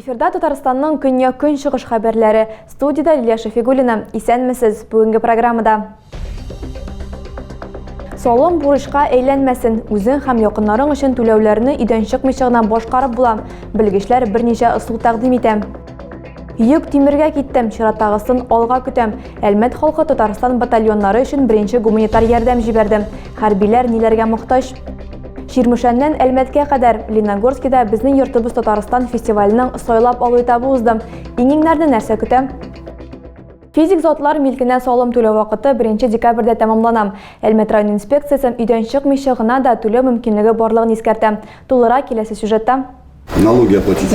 Эфирда Татарстанның көньяк-көнчыгыш хәбәрләре. Студияда Лилия Шәфигуллина. Исәнмесез. Бүгенге программада Салым бурычка әйләнмәсен, үзең һәм якыннарың өчен түләүләрне өйдән чыкмыйча гына башкарып була. Белгечләр берничә ысул тәкъдим итә. Йөк тимергә киттем, чираттагысын алга көтәм. Әлмәт халкы Татарстан батальоннары өчен беренче гуманитар ярдәм җибәрде. Хәрбиләр ниләргә мохтаҗ? Чирмешәннән Әлмәткә кадәр Леногорскида безнең йортыбыз Татарстан фестиваленең сайлап алу этабы узды. Иңеңнәрне нәрсә көтә? Физик затлар милкенә салым түләү вакыты 1 декабрьдә тәмамлана. Әлмәт район инспекциясе өйдән чыкмыйча гына да түләү мөмкинлеге барлыгын искәртә. Тулырак киләсе сюжетта. Налоги оплатить.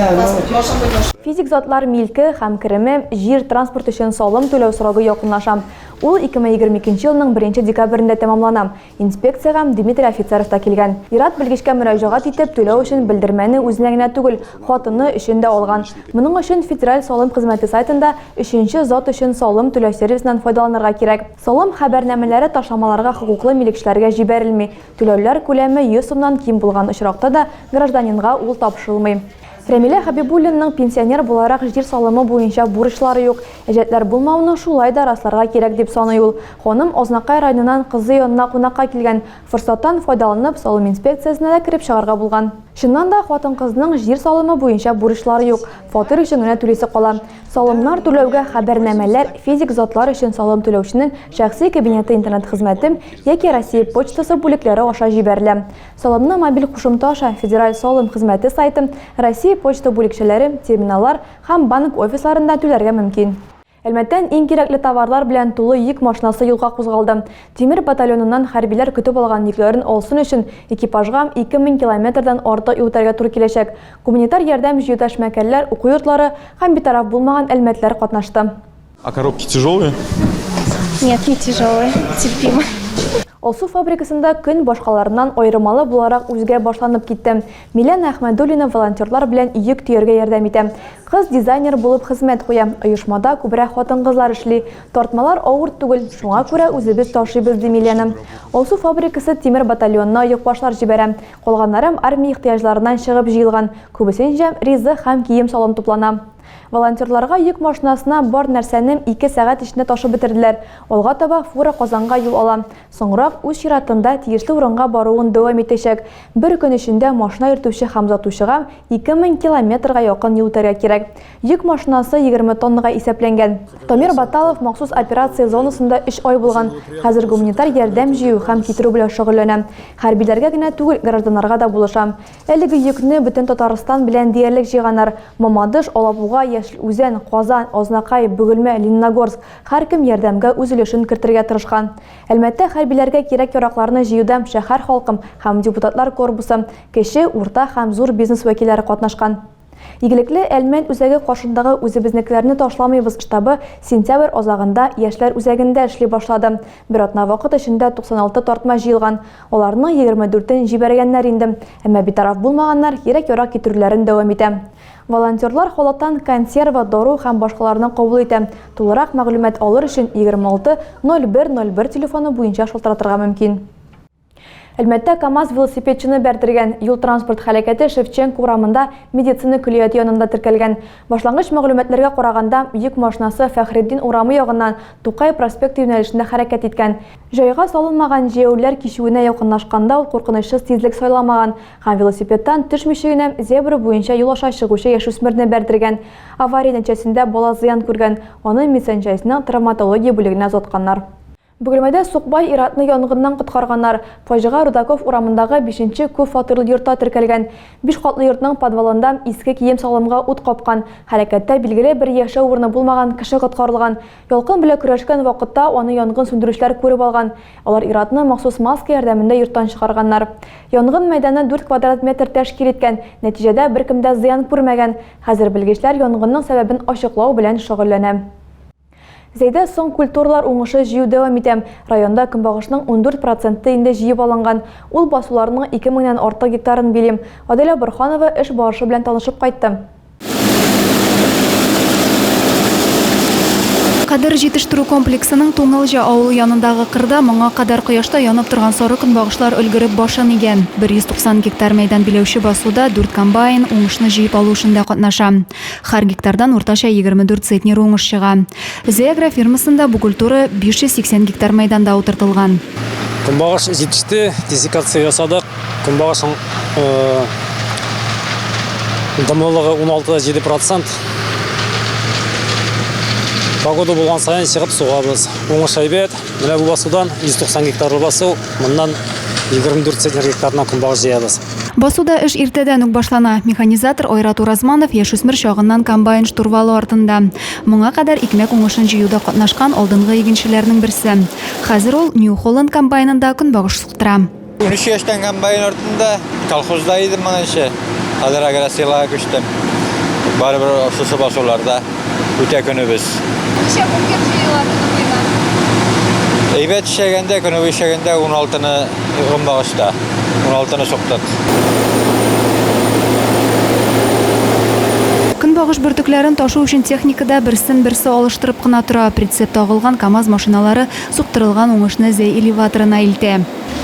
Физик затлар милке һәм кереме, җир, транспорт өчен салым түләү срогы якынлаша. Ул 2022 елның 1 декабрендә тәмамлана. Инспекциягә Дмитрий Офицеров та килгән. Ир-ат белгечкә мөрәҗәгать итеп, түләү өчен белдермәне үзенә генә түгел, хатыны өчен дә алган. Моның өчен Федераль салым хезмәте сайтында өченче зат өчен салым түләү сервисыннан файдаланырга кирәк. Салым хәбәрнамәләре ташламаларга хокуклы милекчеләргә җибәрелми, түләүләр күләме 100 сумнан ким булган очракта да гражданинга ул тапшырылмый. Рәмилә Хәбибуллинның пенсионер буларак җир салымы буенча бурычлары юк. Әҗәтләр булмавны шулай да расларга кирәк, дип саный ул. Ханым Азнакай районыннан кызы янына кунакка килгән. Форсаттан файдаланып, салым инспекциясенә дә кереп чыгарга булган. Чыннан да, хатын-кызның җир салымы буенча бурычлары юк, фатир өчен генә түлисе кала. Салымнар түләүгә хәбәрнамәләр, физик затлар өчен салым түләүченең шәхси кабинеты интернет-хезмәте яки Россия почтасы бүлекләре аша җибәрелә. Салымны мобиль кушымта аша Федераль салым хезмәте сайты, Россия почта бүлекчәләре, терминаллар һәм банк офисларында түләргә мөмкин. Әлмәттән иң кирәкле товарлар белән тулы йөк машинасы юлга кузгалды. Тимер батальоныннан хәрбиләр көтеп алган йөкләрен алсын өчен экипажга 2000 километрдан артык юл үтәргә туры киләчәк. Гуманитар ярдәм җыюда эшмәкәрләр, уку йортлары һәм битараф булмаган әлмәтләр катнашты. А коробки тяжелые? Нет, не тяжелые, терпимо. Алсу фабрикасында көн башкаларыннан айырмалы буларак үзгә башланып китте. Милән Әхмәдуллина волонтерлар белән йөк төяргә ярдәм итә. Кыз дизайнер булып хезмәт куя. Оешмада күбрәк хатын-кызлар эшли. Тартмалар авыр түгел, шуңа күрә үзебез ташыйбыз, ди Миләна. Алсу фабрикасы тимер батальонына йөкбашлар җибәрә. Калганнарым армия ихтыяҗларыннан чыгып җыелган. Күбесенчә ризык һәм кием-салым туплана. Волонтерларга йөк машинасына бар нәрсәне ике сәгать эчендә ташып бетерделәр. Алга таба фура Казанга юл ала. Соңрак, үз чиратында, тиешле урынга баруын дәвам итәчәк. Бер көн эчендә машина йөртүче һәм озатучыга 2000 километрга якын юл үтәргә кирәк. Йөк машинасы 20 тоннага исәпләнгән. Дамир Баталов махсус операция зонасында өч ай булган. Хәзер гуманитар ярдәм җыю һәм китерү белән шөгыльләнә. Хәрбиләргә генә түгел, гражданнарга да булыша. Әлеге йөкне бөтен Татарстан белән диярлек җыйганнар. Мамадыш, Алабуга, Яшел Үзән, Казан, Азнакай, Бөгелмә, Лениногорск, һәркем ярдәмгә үз өлешен кертергә тырышкан. Әлмәттә хәрбиләргә кирәк-яракларны җыюда шәһәр халкым һәм депутатлар корпусы, кече, урта һәм зур бизнес вәкилләре катнашкан. Игелекле Әлмәт үзәге каршындагы Үзебезнекеләрне ташламыйбыз штабы сентябрь азагында Яшьләр үзәгендә эшли башлады. Бер атна вакыт эчендә 96 тартма җыелган. Аларның 24-ен җибәргәннәр инде. Әмма битараф булмаганнар, кирәк-ярак китерүләрен дәвам итә. Волонтерлар халаттан консерва, дару һәм башкаларны кабул итә. Тулырак мәгълүмат алыр өчен 26 01 01 телефоны буенча шалтыратырга мөмкин. Әлмәттә КАМАЗ велосипедчыны бәрдергән. Юл-транспорт һәлакәте Шевченко урамында медицина көллияте янында теркәлгән. Башлангыч мәгълүматларга караганда, йөк машинасы Фәхретдин урамы ягыннан Тукай проспекты юнәлешендә хәрәкәт иткән. Җайга салынмаган җәяүлеләр кичүенә якынлашканда ул куркынычсыз тизлек сайламаган һәм велосипедтан төшмичә генә зебра буенча юл аша чыгучы яшүсмерне бәрдергән. Авария нәтиҗәсендә бала зыян күргән, аны медсанчаснең травматология бүлегенә озатканнар. Бөгелмәдә сукбай ир-атны янгыннан коткарганнар. Фаҗига Рудаков урамындагы бишенче күп фатирлы йортта теркәлгән. Биш катлы йортның подвалында иске кием-салымга ут капкан. Һәлакәттә билгеле бер яшәү урыны булмаган кеше коткарылган. Ялкын белән көрәшкән вакытта аны янгын сүндерүчеләр күреп алган. Алар ир-атны махсус маска ярдәмендә йорттан чыгарганнар. Янгын мәйданы дүрт квадрат метр тәшкил иткән, нәтиҗәдә беркем дә зыян күрмәгән. Хәзер белгечләр янгынның сәбәбен ачыклау белән шөгыльләнә. Зәйдә соң культуралар уңышы җыю дәвам итә. Районда көнбагышның ундүрт проценты инде җыеп алынган. Ул басуларның ике меңнән артык гектарын били. Аделя Борһанова эш барышы белән танышып кайтты. Кадер җитештерү комплексының Туңылҗа авылы янындагы кырда моңа кадәр кояшта янып торган сары көнбагышлар өлгереп башын игән. 190 гектар мәйдан биләүче басуда дүрт комбайн уңышны җыеп алу эшендә катнаша. Һәр гектардан уртача 24 центнер уңыш чыга. Зеагра фермасында бу культура 580 гектар мәйданда утыртылган. Көнбагыш җитеште, десекация ясадык. Көнбагышның дымлылыгы 16-7 процент. Погода булган саен чыгып сугабыз. Уңыш әйбәт. Менә бу басудан 190 гектар басу, моннан 24 центнер гектарына көнбагыш җыябыз. Басуда эш иртәдән үк башлана. Механизатор Айрат Уразманов яшүсмер чагыннан комбайн штурвалы артында. Моңа кадәр икмәк уңышын җыюда катнашкан алдынгы игенчеләрнең берсе. Хәзер ул New Holland комбайнында көнбагыш суктыра. Унөч яшьтән комбайн артында, колхозда идем моңынчы. Хәзер агросилага күчтем. Барыбер шушы басуларда. үтә көнебез. Ничә күпкә җыела көнебезгә? Әйбәт эшләгәндә, көнебез эшләгәндә 16-ны гомбагышта. 16-ны суктык. Көнбагыш бөртекләрен ташу өчен техника да берсен-берсе алыштырып кына тора. Прицеп тагылган КАМАЗ машиналары суктырылган уңышны Зәй элеваторына илтә.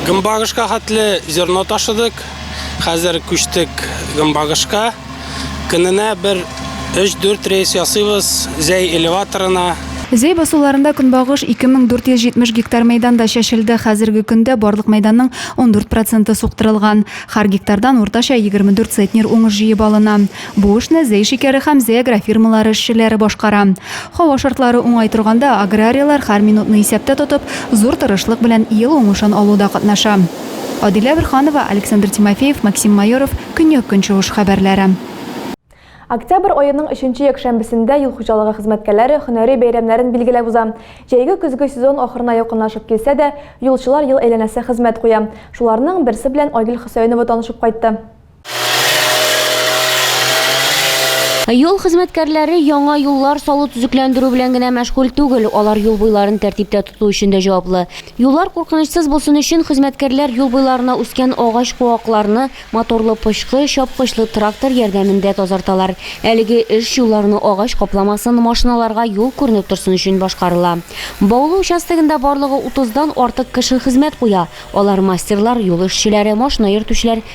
Гомбагышка хәтле зерно ташыдык. Хәзер күчтек гомбагышка. Көненә бер 3-4 рейс ясыйбыз Зәй элеваторына. Зәй басуларында көнбагыш 2470 гектар мәйданда чәчелде. Хәзерге көндә барлык мәйданның 14 проценты суктырылган. Һәр гектардан уртача 24 цетнер уңыш җыеп алына. Бу эшне Зәй шикәре һәм Зәй агрофирмалары эшчеләре башкара. Һава шартлары уңай торганда, аграрийлар, һәр минутны исәптә тотып, зур тырышлык белән ел уңышын алуда катнаша. Адилә Борһанова, Александр Тимофеев, Максим Майоров, Көньяк-Көнчыгыш хәбәрләре. Октябрь аеның өченче якшәмбесендә юл хуҗалыгы хезмәткәләре һөнәри бәйрәмнәрен билгеләп уза. Җәйге-көзге сезон ахырына якынлашып килсә дә, юлчылар ел әйләнәсе хезмәт куя. Шуларның берсе белән Айгөл Хөсәенова танышып кайтты. Юл хезмәткәрләре яңа юллар салу төзекләндерү белән генә мәшгуль түгел, алар юл буйларын тәртиптә тоту өчен дә җаваплы. Юллар куркынычсыз булсын өчен хезмәткәрләр юл буйларына үскән агач куакларны моторлы пычкы, чапкычлы трактор ярдәмендә тазарталар. Әлеге эш юлларны агач капламасын, машиналарга юл күренеп торсын өчен башкарыла. Баулы участогында барлыгы утыздан артык кеше хезмәт куя, алар мастерлар, юл эшчеләре, машина йөртүчеләр,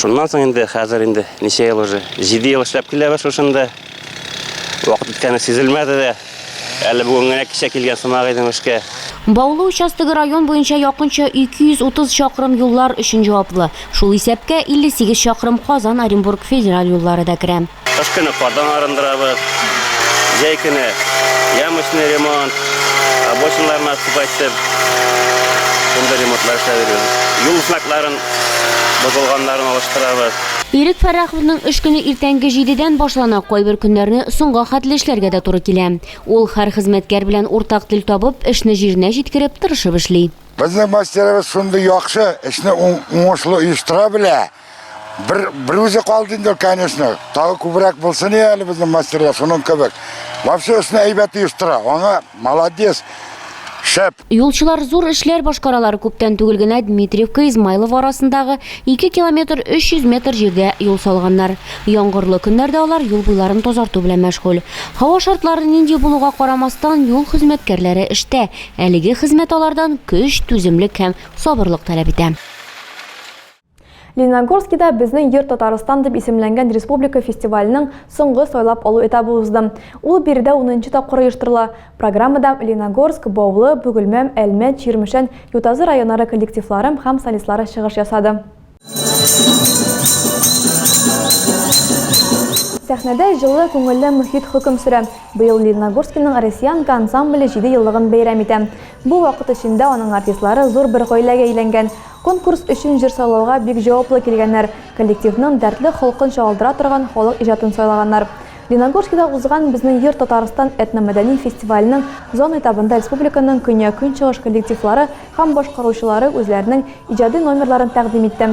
Шуннан соң инде хәзер инде ничә ел уже? 7 ел эшләп киләбез шушында. Вакыт үткәне сизелмәде дә. Әле бүген генә кичә килгән сымак идем эшкә. Баулы участогы район буенча якынча 230 чакрым юллар өчен җаваплы. Шул исәпкә 58 чакрым Казан-Оренбург федераль юллары да керә. Кыш көне кардан арындырабыз, җәй көне ямочный ремонт, обочиналарны асып әйтеп, шундый ремонтлар эшләп йөрибез. Юл знакларын бозылганнарын алыштырабыз. Ирек Фәрраховның эш көне иртәнге җидедән башлана, кайбер көннәрне соңга хәтле эшләргә дә туры килә. Ул, һәр хезмәткәр белән уртак тел табып, эшне җиренә җиткереп, тырышып эшли. Безнең мастерыбыз шундый яхшы, эшне уңышлы оештыра белә. Бер, бер үзе калды инде, конечно. Тагы күбрәк булсын я әле безнең мастерлар, шуның кебек. Вообще өстенә әйбәт оештыра. Аңа молодец. Шәп. Юлчылар зур эшләр башкаралар. Күптән түгел генә Дмитриевка Измайлов арасындагы 2 километр 300 метр җирдә юл салганнар. Яңгырлы көннәрдә алар юл буйларын тазарту белән мәшгуль. Һава шартлары нинди булуга карамастан, юл хезмәткәрләре эштә. Әлеге хезмәт алардан көч, түземлек һәм сабырлык таләп итә. Лениногорскида безнең йорт Татарстан дип исемләнгән республика фестиваленең соңгы сайлап алу этабы узды. Ул биредә унынчы тапкыр оештырыла. Программада Лениногорск, Баулы, Бөгелмәм, Әлмәт, Чирмешән, Ютазы районнары коллективлары һәм солистлары чыгыш ясады. Сәхнәдә җылы, күңелле мохит хөкем сөрә. Быел Лениногорскиның Россиянка ансамбле җиде еллыгын бәйрәм итә. Бу вакыт эчендә аның артистлары зур бер гаиләгә әйләнгән. Конкурс өчен җыр сайлауга бик җаваплы килгәннәр, коллективның дәртле холкын чагылдыра торган халык иҗатын сайлаганнар. Леногорскида узган Безнең йорт Татарстан этномәдәни фестиваленең зона этабында республиканың көньяк-көнчыгыш коллективлары һәм башкаручылары үзләренең иҗади номерларын тәкъдим итте.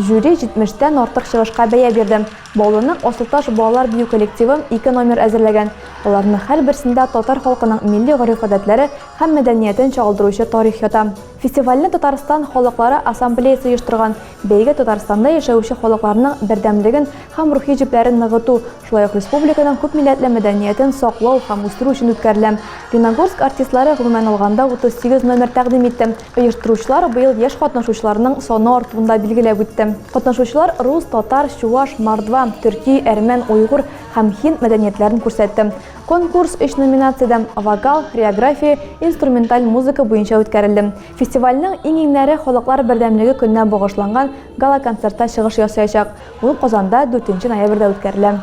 Жюри җитмештән артык чыгышка бәя бирде. Баулының Асылташ балалар бию коллективы ике номер әзерләгән. Аларның һәрберсендә татар халкының милли гореф-гадәтләре һәм мәдәниятен чагылдыручы тарих ята. Фестивальне Татарстан халыклары ассамблеясе оештырган. Бәйге Татарстанда яшәүче халыкларның бердәмлеген һәм рухи җепләрен ныгыту, шулай ук республиканың күпмилләтле мәдәниятен саклау һәм үстерү өчен үткәрелә. Леногорск артистлары гомумән алганда 38 номер тәкъдим итте. Оештыручылар быел яшь катнашучыларның саны артуын да билгеләп үтте. Катнашучылар рус, татар, чуваш, мордва, төрки, әрмән, уйгур һәм һинд мәдәниятләрен күрсәтте. Конкурс өч номинациядә, вокал, хореография, инструменталь музыка буенча үткәрелде. Фестивальнең иң-иңнәре Халыклар бердәмлеге көненә багышланган гала-концертта чыгыш ясаячак. Ул Казанда дүртенче ноябрьдә үткәрелә.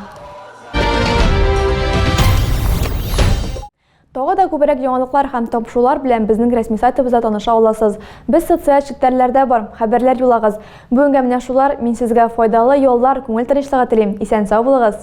Тагы да күбрәк яңалыклар һәм табышулар белән безнең рәсми сайтыбызда таныша аласыз. Без социаль челтәрләрдә бар, хәбәрләр юлагыз. Бүгенгә менә шулар, мин сезгә файдалы яллар, күңел тынычлыгы телим. Исән-сау булыгыз!